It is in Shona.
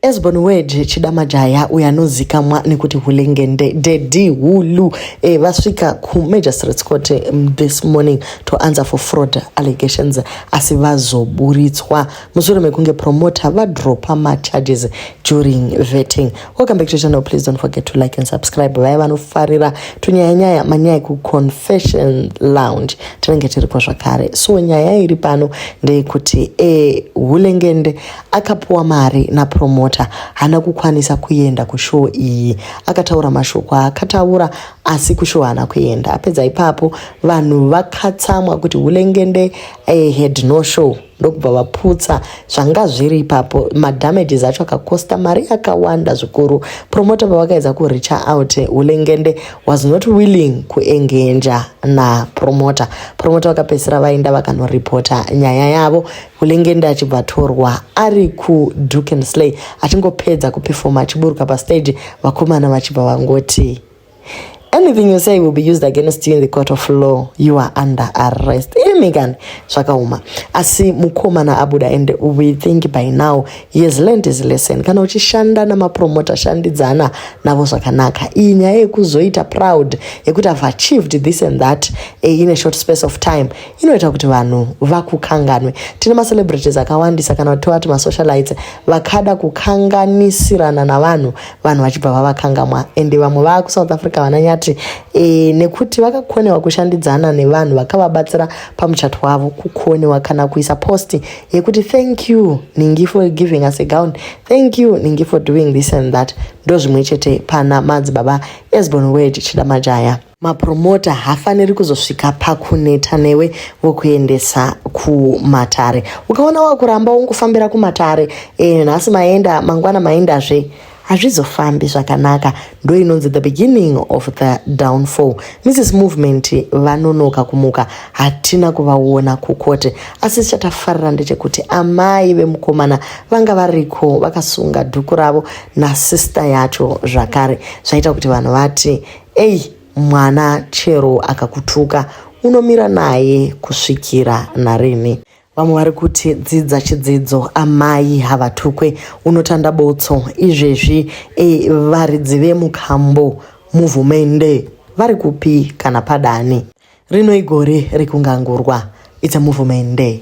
As born word chida majaya uyo anozikamwa nekuti hulengende dedi hulu e, vasvika kumagistrates court mm, this morning to answer for fraud allegations asi vazoburitswa mushure mekunge promoter vadropa macharges during vetting welcome back to channel please don't forget to like and subscribe vaya vanofarira tunyaya nyaya manyaya kuconfession lounge tinenge tiriko zvakare so nyaya iri pano ndeyekuti e, hulengende akapuwa mari napromota haana kukwanisa kuenda kushow iyi akataura mashoko aakataura asi kushow haana kuenda apedza ipapo vanhu vakatsamwa kuti hulengende eh, had no show ndokubva vaputsa zvanga zviri ipapo madamages acho akakosta mari yakawanda zvikuru promota pavakaedza kuricha out hulengende was not willing kuengenja napromota promota vakapedzisira vaenda vakanoripota nyaya yavo Hulengende achibva atorwa ari kuduke and slay achingopedza kupefoma achiburuka pastage vakomana vachibva vangoti anything you say will be used against you in the court of law you are under arrest imi kani zvakaoma asi mukomana abuda and we think by now yes land is lesson kana uchishanda namapromota shandidzana navo zvakanaka iyi nyaya yekuzoita proud yekuti have achieved this and that eh, in a short space of time inoita kuti vanhu vakukanganwe tine macelebrities akawandisa kana tovati masocialites vakada kukanganisirana navanhu vanhu vachibva vavakangamwa ende vamwe vaa kusouth africa vananyati e, nekuti vakakonewa kushandidzana nevanhu vakavabatsira pamuchato wavo kukonewa kana kuisa posti yekuti thank you ningi for giving us a gown thank you ningi for doing this and that ndozvimwe chete pana madzibaba esbon word chida majaya mapromota hafaniri kuzosvika pakuneta newe vokuendesa kumatare ukaona wakuramba wongofambira kumatare e, nhasi maenda mangwana maendazve hazvizofambi zvakanaka ndo inonzi the beginning of the downfall mrs movement vanonoka kumuka hatina kuvaona kukote asi chatafarira ndechekuti amai vemukomana vanga variko vakasunga dhuku ravo nasister yacho zvakare zvaita kuti vanhu vati Ei mwana chero akakutuka unomira naye kusvikira narini. Vamwe vari kuti dzidza chidzidzo amai havatukwe unotanda botso izvezvi e, varidzi vemukambo muvhumende vari kupi kana padani rino igore rekungangurwa it's a movement day.